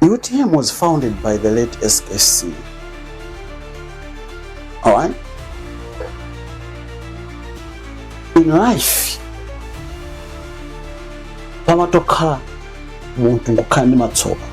UTM was founded by the late SSC. Alright? In life, pamatokhala munthu ngokhala ndi matsoka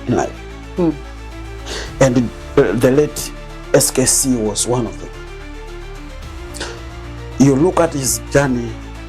in life Mm. and uh, the late skc was one of them you look at his journey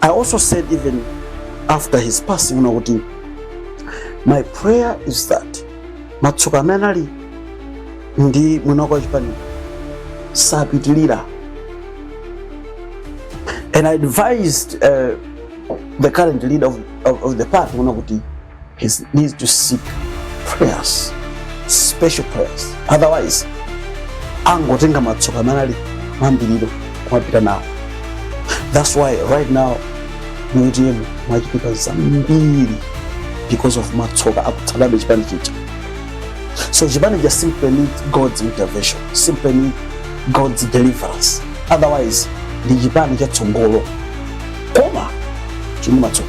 I also said even after his passing ndinati my prayer is that matsoka amene anali ndi mwini wake wa chipani sapitilira and I advised uh, the current leader of, of, of the party ndinati He needs to seek prayers, special prayers. Otherwise, angotenga matsoka amene anali mwa mbiriwo kumapita nawo. That's why right now mu UTM mwachitika zambiri because of matsoka akutsatabe chipanicho. So chipani just simply needs God's intervention, simply needs God's deliverance. Otherwise, ndi chipani cha tsogolo koma chili ndi matsoka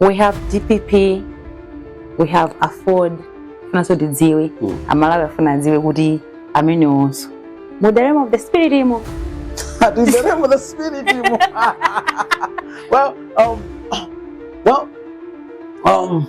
we have dpp we have afford afunanso adziwe mm. amalawi afuna adziwe kuti amenewonso mu the realm of the spirit alimo in the realm of the spirit alimo well um, well um,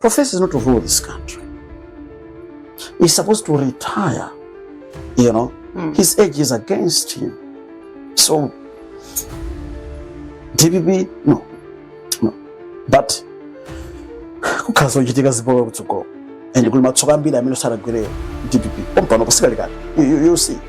Professor is not to rule this country. He's supposed to retire. You know, mm. his age is against him. So, DPP, no, no. But, kukhala zochitika zipowe kutsogolo and kuli matsoka ambiri amene osatagwirera dpp pompano kusikalekale you see